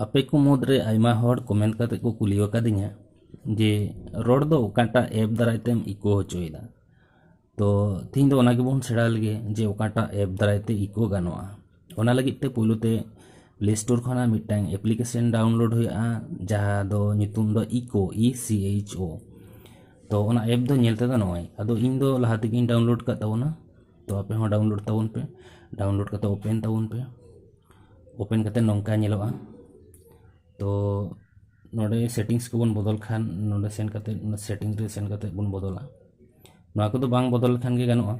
ᱟᱯᱮ ᱠᱚ ᱢᱩᱫᱽ ᱨᱮ ᱟᱭᱢᱟ ᱦᱚᱲ ᱠᱚᱢᱮᱱᱴ ᱠᱟᱛᱮ ᱠᱚ ᱠᱩᱞᱤ ᱟᱠᱟᱫᱤᱧᱟ ᱡᱮ ᱨᱚᱲ ᱫᱚ ᱚᱠᱟᱴᱟᱜ ᱮᱯ ᱫᱟᱨᱟᱭ ᱛᱮᱢ ᱤᱠᱳ ᱦᱚᱪᱚᱭᱮᱫᱟ ᱛᱚ ᱛᱮᱦᱮᱧ ᱫᱚ ᱚᱱᱟ ᱜᱮᱵᱚᱱ ᱥᱮᱬᱟ ᱞᱮᱜᱮ ᱡᱮ ᱚᱠᱟᱴᱟᱜ ᱮᱯ ᱫᱟᱨᱟᱭ ᱛᱮ ᱤᱠᱳ ᱜᱟᱱᱚᱜᱼᱟ ᱚᱱᱟ ᱞᱟᱹᱜᱤᱫ ᱛᱮ ᱯᱳᱭᱞᱳ ᱛᱮ ᱯᱞᱮ ᱥᱴᱳᱨ ᱠᱷᱚᱱᱟᱜ ᱢᱤᱫᱴᱟᱝ ᱮᱯᱞᱤᱠᱮᱥᱚᱱ ᱰᱟᱣᱩᱱᱞᱳᱰ ᱦᱩᱭᱩᱜᱼᱟ ᱡᱟᱦᱟᱸ ᱫᱚ ᱧᱩᱛᱩᱢ ᱫᱚ ᱤᱠᱳ ᱤ ᱥᱤ ᱮᱭᱤᱪ ᱳ ᱛᱚ ᱚᱱᱟ ᱮᱯ ᱫᱚ ᱧᱮᱞ ᱛᱮᱫᱚ ᱱᱚᱜᱼᱚᱭ ᱟᱫᱚ ᱤᱧ ᱫᱚ ᱞᱟᱦᱟ ᱛᱮᱜᱮᱧ ᱰᱟᱣᱩᱱᱞᱳᱰ ᱟᱠᱟᱫ ᱛᱟᱵᱚᱱᱟ ᱛᱚ ᱟᱯᱮ ᱦᱚᱸ ᱰᱟᱣᱩᱱᱞᱳᱰ ᱛᱟᱵᱚᱱ ᱯᱮ ᱰᱟᱣᱩᱱᱞᱳᱰ ᱠᱟᱛᱮ ᱳᱯᱮᱱ ᱛᱟᱵᱚᱱ ᱯᱮ ᱳᱯᱮᱱ ᱠᱟᱛᱮ ᱱᱚᱝᱠᱟ ᱧᱮᱞᱚᱜᱼᱟ ᱛᱚ ᱱᱚᱰᱮ ᱥᱮᱴᱤᱝᱥ ᱠᱚᱵᱚᱱ ᱵᱚᱫᱚᱞ ᱠᱷᱟᱱ ᱱᱚᱰᱮ ᱥᱮᱱ ᱠᱟᱛᱮ ᱥᱮᱴᱤᱝ ᱨᱮ ᱥᱮᱱ ᱠᱟᱛᱮ ᱵᱚᱱ ᱵᱚᱫᱚᱞᱟ ᱱᱚᱣᱟ ᱠᱚᱫᱚ ᱵᱟᱝ ᱵᱚᱫᱚᱞ ᱞᱮᱠᱷᱟᱱ ᱜᱮ ᱜᱟᱱᱚᱜᱼᱟ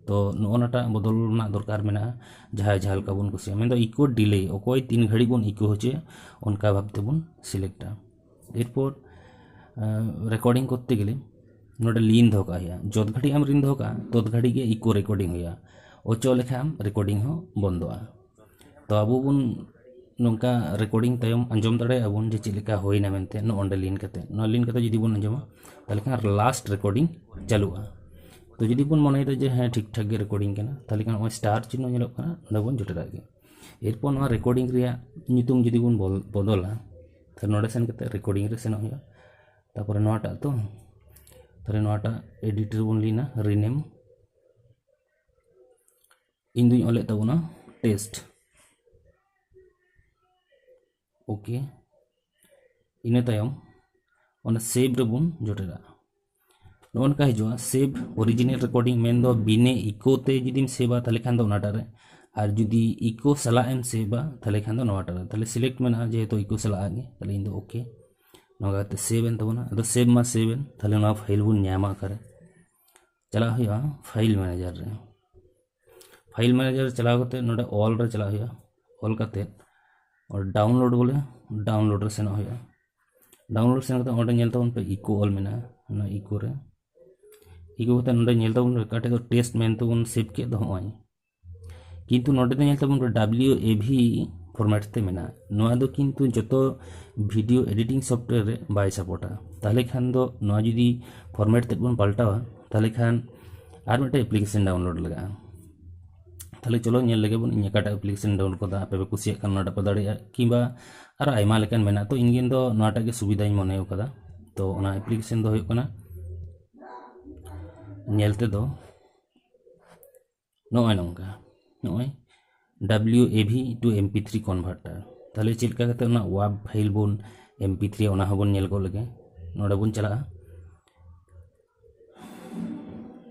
ᱛᱚ ᱱᱚᱜᱼᱚ ᱱᱟ ᱴᱟᱜ ᱵᱚᱫᱚᱞ ᱨᱮᱱᱟᱜ ᱫᱚᱨᱠᱟᱨ ᱢᱮᱱᱟᱜᱼᱟ ᱡᱟᱦᱟᱸᱭ ᱡᱟᱦᱟᱸ ᱞᱮᱠᱟ ᱵᱚᱱ ᱠᱩᱥᱤᱭᱟᱜᱼᱟ ᱢᱮᱱᱫᱚ ᱤᱠᱳ ᱰᱤᱞᱮ ᱚᱠᱚᱭ ᱛᱤᱱ ᱜᱷᱟᱹᱲᱤᱡ ᱵᱚᱱ ᱤᱠᱳ ᱦᱚᱪᱚᱭᱟ ᱚᱱᱠᱟ ᱵᱷᱟᱵ ᱛᱮᱵᱚᱱ ᱥᱤᱞᱮᱠᱴᱟ ᱮᱨᱯᱚᱨ ᱨᱮᱠᱳᱰᱤᱝ ᱠᱚᱨᱛᱮ ᱜᱮᱞᱮ ᱱᱚᱰᱮ ᱞᱤᱱ ᱫᱚᱦᱚ ᱠᱟᱜ ᱦᱩᱭᱩᱜᱼᱟ ᱡᱚᱛ ᱜᱷᱟᱹᱲᱤᱡ ᱮᱢ ᱞᱤᱱ ᱫᱚᱦᱚ ᱠᱟᱜᱼᱟ ᱛᱚᱛ ᱜᱷᱟᱹᱲᱤᱡ ᱜᱮ ᱤᱠᱳ ᱨᱮᱠᱳᱰᱤᱝ ᱦᱩᱭᱩᱜᱼᱟ ᱚᱪᱚᱜ ᱞᱮᱠᱷᱟᱡ ᱮᱢ ᱨᱮᱠᱳᱰᱤᱝ ᱦᱚᱸ ᱵᱚᱱᱫᱚᱜᱼᱟ ᱛᱚ ᱟᱵᱚ ᱵᱚᱱ ᱱᱚᱝᱠᱟ ᱨᱮᱠᱳᱰᱤᱝ ᱛᱟᱭᱚᱢ ᱟᱸᱡᱚᱢ ᱫᱟᱲᱮᱭᱟᱜ ᱟᱵᱚᱱ ᱡᱮ ᱪᱮᱫ ᱞᱮᱠᱟ ᱦᱩᱭᱱᱟ ᱢᱮᱱᱛᱮ ᱱᱚᱜᱼᱚ ᱱᱚᱰᱮ ᱞᱤᱱ ᱠᱟᱛᱮ ᱱᱚᱣᱟ ᱞᱤᱱ ᱠᱟᱛᱮ ᱡᱩᱫᱤ ᱵᱚᱱ ᱟᱸᱡᱚᱢᱟ ᱛᱟᱦᱚᱞᱮ ᱠᱷᱟᱱ ᱞᱟᱥᱴ ᱨᱮᱠᱳᱰᱤᱝ ᱪᱟᱹᱞᱩᱜᱼᱟ ᱛᱚ ᱡᱩᱫᱤ ᱵᱚᱱ ᱢᱚᱱᱮᱭᱮᱫᱟ ᱡᱮ ᱦᱮᱸ ᱴᱷᱤᱠ ᱴᱷᱟᱠ ᱜᱮ ᱨᱮᱠᱳᱰᱤᱝ ᱠᱟᱱᱟ ᱛᱟᱦᱚᱞᱮ ᱠᱷᱟᱱ ᱱᱚᱜᱼᱚᱭ ᱥᱴᱟᱨ ᱪᱤᱱᱦᱟᱹ ᱧᱮᱞᱚᱜ ᱠᱟᱱᱟ ᱱᱚᱰᱮ ᱵᱚᱱ ᱡᱚᱴᱮᱫᱟᱜ ᱜᱮ ᱮᱨᱯᱚᱨ ᱱᱚᱣᱟ ᱨᱮᱠᱳᱰᱤᱝ ᱨᱮᱭᱟᱜ ᱧᱩᱛᱩᱢ ᱡᱩᱫᱤ ᱵᱚᱱ ᱵᱚᱫᱚᱞᱟ ᱛᱟᱦᱚᱞᱮ ᱱᱚᱰᱮ ᱥᱮᱱ ᱠᱟᱛᱮ ᱨᱮᱠᱳᱰᱤᱝ ᱨᱮ ᱥᱮᱱᱚᱜ ᱦᱩᱭᱩᱜᱼᱟ ᱛᱟᱨᱯᱚᱨᱮ ᱱᱚᱣᱟᱴᱟᱜ ᱛᱚ ᱛᱟᱦᱚᱞᱮ ᱱᱚᱣᱟᱴᱟᱜ ᱮᱰᱤᱴ ᱨᱮᱵᱚᱱ ᱞᱤᱱᱟ ᱨᱤᱱᱮᱢ ᱤᱧ ᱫᱩᱧ ᱚᱞᱮᱫ ᱛᱟᱵᱚᱱᱟ ᱴᱮᱥᱴ ᱳᱠᱮ ᱤᱱᱟᱹ ᱛᱟᱭᱚᱢ ᱚᱱᱟ ᱥᱮᱵᱽ ᱨᱮᱵᱚᱱ ᱡᱚᱴᱮᱫᱟ ᱱᱚᱜᱼᱚ ᱱᱚᱝᱠᱟ ᱦᱤᱡᱩᱜᱼᱟ ᱥᱮᱵᱽ ᱚᱨᱤᱡᱤᱱᱟᱞ ᱨᱮᱠᱚᱨᱰᱤᱝ ᱢᱮᱱᱫᱚ ᱵᱤᱱᱮ ᱤᱠᱳ ᱛᱮ ᱡᱩᱫᱤᱢ ᱥᱮᱵᱟ ᱛᱟᱦᱚᱞᱮ ᱠᱷᱟᱱ ᱫᱚ ᱚᱱᱟᱴᱟᱜ ᱨᱮ ᱟᱨ ᱡᱩᱫᱤ ᱤᱠᱳ ᱥᱟᱞᱟᱜ ᱮᱢ ᱥᱮᱵᱟ ᱛᱟᱦᱚᱞᱮ ᱠᱷᱟᱱ ᱫᱚ ᱱᱚᱣᱟᱴᱟᱜ ᱨᱮ ᱛᱟᱦᱚᱞᱮ ᱥᱤᱞᱮᱠᱴ ᱢᱮᱱᱟᱜᱼᱟ ᱡᱮᱦᱮᱛᱩ ᱤᱠᱳ ᱥᱟᱞᱟᱜ ᱜᱮ ᱛᱟᱦᱚᱞᱮ ᱤᱧ ᱫᱚ ᱳᱠᱮ ᱱᱚᱣᱟ ᱠᱟᱛᱮ ᱥᱮᱵᱽ ᱮᱱ ᱛᱟᱵᱚᱱᱟ ᱟᱫᱚ ᱥᱮᱵᱽ ᱢᱟ ᱥᱮᱵᱽ ᱮᱱ ᱛᱟᱦᱚᱞᱮ ᱱᱚᱣᱟ ᱯᱷᱟᱭᱤᱞ ᱵᱚᱱ ᱧᱟᱢᱟ ᱚᱠᱟᱨᱮ ᱪᱟᱞᱟᱜ ᱦᱩᱭᱩᱜᱼᱟ ᱯᱷᱟᱭᱤᱞ ᱢᱮᱱᱮᱡᱟᱨ ᱨᱮ ᱯᱷᱟᱭᱤᱞ ᱢᱮᱱᱮᱡᱟᱨ ᱪᱟᱞᱟᱣ ᱠᱟᱛᱮ ᱱᱚᱰᱮ ᱚᱞ ᱨᱮ ᱪᱟᱞᱟᱜ ᱦᱩᱭᱩᱜᱼᱟ ᱚᱞ ᱠᱟᱛᱮ ᱰᱟᱣᱩᱱᱞᱳᱰ ᱵᱚᱞᱮ ᱰᱟᱣᱩᱱᱞᱳᱰ ᱨᱮ ᱥᱮᱱᱚᱜ ᱦᱩᱭᱩᱜᱼᱟ ᱰᱟᱣᱩᱱᱞᱳᱰ ᱥᱮᱱ ᱠᱟᱛᱮ ᱚᱸᱰᱮ ᱧᱮᱞ ᱛᱟᱵᱚᱱ ᱯᱮ ᱤᱠᱳ ᱚᱞ ᱢᱮᱱᱟᱜᱼᱟ ᱚᱱᱟ ᱤᱠᱳ ᱨᱮ ᱤᱠᱳ ᱠᱟᱛᱮ ᱱᱚᱰᱮ ᱧᱮᱞ ᱛᱟᱵᱚᱱ ᱯᱮ ᱚᱠᱟᱴᱷᱮᱡ ᱫᱚ ᱴᱮᱥᱴ ᱢᱮᱱᱛᱮᱵᱚᱱ ᱥᱮᱵᱷ ᱠᱮᱫ ᱫᱚ ᱦᱚᱸᱜᱼᱚᱭ ᱠᱤᱱᱛᱩ ᱱᱚᱰᱮ ᱫᱚ ᱧᱮᱞ ᱛᱟᱵᱚᱱ ᱯᱮ ᱰᱟᱵᱞᱤᱭᱩ ᱮ ᱵᱷᱤ ᱯᱷᱚᱨᱢᱮᱴ ᱛᱮ ᱢᱮᱱᱟᱜᱼᱟ ᱱᱚᱣᱟ ᱫᱚ ᱠᱤᱱᱛᱩ ᱡᱚᱛᱚ ᱵᱷᱤᱰᱤᱭᱳ ᱮᱰᱤᱴᱤᱝ ᱥᱚᱯᱷᱴᱣᱮᱭᱟᱨ ᱨᱮ ᱵᱟᱭ ᱥᱟᱯᱳᱨᱴᱟ ᱛᱟᱦᱚᱞᱮ ᱠᱷᱟᱱ ᱫᱚ ᱱᱚᱣᱟ ᱡᱩᱫᱤ ᱯᱷᱚᱨᱢᱮᱴ ᱛᱮᱫ ᱵᱚᱱ ᱯᱟᱞᱴᱟᱣᱟ ᱛᱟᱦᱚᱞᱮ ᱠᱷᱟᱱ ᱟᱨ ᱢᱤᱫᱴᱮᱱ ᱮᱯᱞᱤᱠᱮᱥᱚᱱ ᱰᱟᱣᱩᱱᱞᱳᱰ ᱞᱟᱜᱟᱜᱼᱟ ᱛᱟᱦᱚᱞᱮ ᱪᱚᱞᱚ ᱧᱮᱞ ᱞᱮᱜᱮ ᱵᱚᱱ ᱤᱧ ᱚᱠᱟᱴᱟᱜ ᱮᱯᱞᱤᱠᱮᱥᱚᱱ ᱰᱟᱣᱩᱱᱞᱳᱰ ᱠᱟᱫᱟ ᱟᱯᱮ ᱯᱮ ᱠᱩᱥᱤᱭᱟᱜ ᱠᱷᱟᱱ ᱚᱱᱟᱴᱟᱜ ᱯᱮ ᱫᱟᱲᱮᱭᱟᱜᱼᱟ ᱠᱤᱝᱵᱟ ᱟᱨᱚ ᱟᱭᱢᱟ ᱞᱮᱠᱟᱱ ᱢᱮᱱᱟᱜᱼᱟ ᱛᱚ ᱤᱧ ᱫᱚ ᱱᱚᱣᱟᱴᱟᱜ ᱜᱮ ᱥᱩᱵᱤᱫᱷᱟᱧ ᱢᱚᱱᱮ ᱠᱟᱫᱟ ᱛᱚ ᱚᱱᱟ ᱮᱯᱞᱤᱠᱮᱥᱚᱱ ᱫᱚ ᱦᱩᱭᱩᱜ ᱠᱟᱱᱟ ᱧᱮᱞ ᱛᱮᱫᱚ ᱱᱚᱜᱼᱚᱭ ᱱᱚᱝᱠᱟ ᱱᱚᱜᱼᱚᱭ W A V to M P three converter ᱛᱟᱦᱚᱞᱮ ᱪᱮᱫ ᱞᱮᱠᱟ ᱠᱟᱛᱮ ᱚᱱᱟ ᱣᱟᱵ ᱯᱷᱟᱭᱤᱞ ᱵᱚᱱ ᱮᱢ ᱯᱤ ᱛᱷᱨᱤ ᱚᱱᱟ ᱦᱚᱸᱵᱚᱱ ᱧᱮᱞ ᱜᱚᱫ ᱞᱮᱜᱮ ᱱᱚᱰᱮ ᱵᱚᱱ ᱪᱟᱞᱟᱜᱼᱟ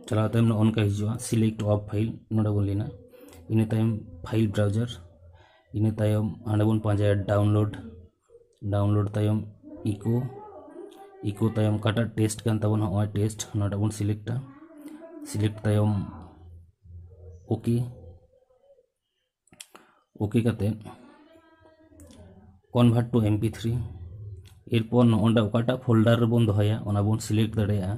ᱪᱟᱞᱟᱣ ᱛᱟᱭᱚᱢ ᱱᱚᱜᱼᱚ ᱱᱚᱝᱠᱟ ᱦᱤᱡᱩᱜᱼᱟ ᱥᱤᱞᱮᱠᱴ ᱚᱯᱷ ᱯᱷᱟᱭᱤᱞ ᱱᱚᱰᱮ ᱵᱚᱱ ᱞᱮᱱᱟ ᱤᱱᱟᱹ ᱛᱟᱭᱚᱢ ᱯᱷᱟᱭᱤᱞ ᱵᱨᱟᱣᱡᱟᱨ ᱤᱱᱟᱹ ᱛᱟᱭᱚᱢ ᱦᱟᱸᱰᱮ ᱵᱚᱱ ᱯᱟᱸᱡᱟᱭᱟ ᱰᱟᱣᱩᱱᱞᱳᱰ ᱰᱟᱣᱩᱱᱞᱳᱰ ᱛᱟᱭᱚᱢ ᱤᱠᱳ ᱤᱠᱳ ᱛᱟᱭᱚᱢ ᱚᱠᱟᱴᱟᱜ ᱴᱮᱥᱴ ᱠᱟᱱ ᱛᱟᱵᱚᱱᱟ ᱱᱚᱜᱼᱚᱭ ᱴᱮᱥᱴ ᱱᱚᱰᱮ ᱵᱚᱱ ᱥᱤᱞᱮᱠᱴᱟ ᱥᱤᱞᱮᱠᱴ ᱛᱟᱭᱚᱢ ᱳᱠᱮ ᱳᱠᱮ ᱠᱟᱛᱮ convert to M P three ᱮᱨᱯᱚᱨ ᱱᱚᱜᱼᱚᱸᱰᱮ ᱚᱠᱟᱴᱟᱜ ᱯᱷᱳᱞᱰᱟᱨ ᱨᱮᱵᱚᱱ ᱫᱚᱦᱚᱭᱟ ᱚᱱᱟ ᱵᱚᱱ ᱥᱤᱞᱮᱠᱴ ᱫᱟᱲᱮᱭᱟᱜᱼᱟ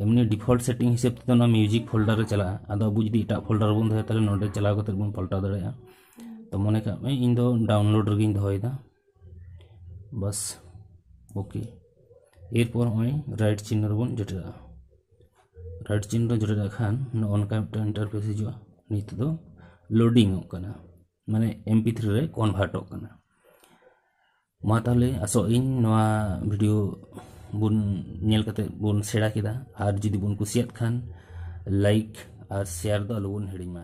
ᱮᱢᱱᱤ ᱰᱤᱯᱷᱚᱞᱴ ᱥᱮᱴᱤᱝ ᱦᱤᱥᱟᱹᱵ ᱛᱮᱫᱚ ᱱᱚᱣᱟ ᱢᱤᱭᱩᱡᱤᱠ ᱯᱷᱳᱞᱰᱟᱨ ᱨᱮ ᱪᱟᱞᱟᱜᱼᱟ ᱟᱫᱚ ᱟᱵᱚ ᱡᱩᱫᱤ ᱮᱴᱟᱜ ᱯᱷᱳᱞᱰᱟᱨ ᱵᱚᱱ ᱫᱚᱦᱚᱭᱟ ᱛᱟᱦᱚᱞᱮ ᱱᱚᱰᱮ ᱪᱟᱞᱟᱣ ᱠᱟᱛᱮ ᱵᱚᱱ ᱯᱟᱞᱴᱟᱣ ᱫᱟᱲᱮᱭᱟᱜᱼᱟ ᱛᱚ ᱢᱚᱱᱮ ᱠᱟᱜ ᱢᱮ ᱤᱧ ᱫᱚ ᱰᱟᱣᱩᱱᱞᱳᱰ ᱨᱮᱜᱮᱧ ᱫᱚᱦᱚᱭᱮᱫᱟ ᱵᱟᱥ ᱳᱠᱮ ᱮᱨᱯᱚᱨ ᱱᱚᱜᱼᱚᱭ ᱨᱟᱭᱤᱴ ᱪᱤᱱᱦᱟᱹ ᱨᱮᱵᱚᱱ ᱡᱚᱴᱮᱫᱟᱜᱼᱟ ᱨᱟᱭᱤᱴ ᱪᱤᱱᱦᱟᱹ ᱨᱮ ᱡᱚᱴᱮᱫᱟᱜ ᱠᱷᱟᱱ ᱱᱚᱜᱼᱚ ᱱᱚᱝᱠᱟ ᱢᱤᱫᱴᱟᱝ ᱤᱱᱴᱟᱨᱯᱷᱮᱥ ᱦᱤᱡᱩᱜᱼᱟ ᱱᱤᱛ ᱫᱚ ᱞᱳᱰᱤᱝᱚᱜ ᱠᱟᱱᱟ ᱢᱟᱱᱮ ᱮᱢ ᱯᱤ ᱛᱷᱨᱤ ᱨᱮ ᱠᱚᱱᱵᱷᱟᱨᱴᱚᱜ ᱠᱟᱱᱟ ᱢᱟ ᱛᱟᱦᱚᱞᱮ ᱟᱥᱚᱜ ᱤᱧ ᱱᱚᱣᱟ ᱵᱷᱤᱰᱤᱭᱳ ᱵᱚᱱ ᱧᱮᱞ ᱠᱟᱛᱮ ᱵᱚᱱ ᱥᱮᱬᱟ ᱠᱮᱫᱟ ᱟᱨ ᱡᱩᱫᱤ ᱵᱚᱱ ᱠᱩᱥᱤᱭᱟᱫ ᱠᱷᱟᱱ ᱞᱟᱭᱤᱠ ᱟᱨ ᱥᱮᱭᱟᱨ ᱫᱚ ᱟᱞᱚᱵᱚᱱ ᱦᱤᱲᱤᱧ ᱢᱟ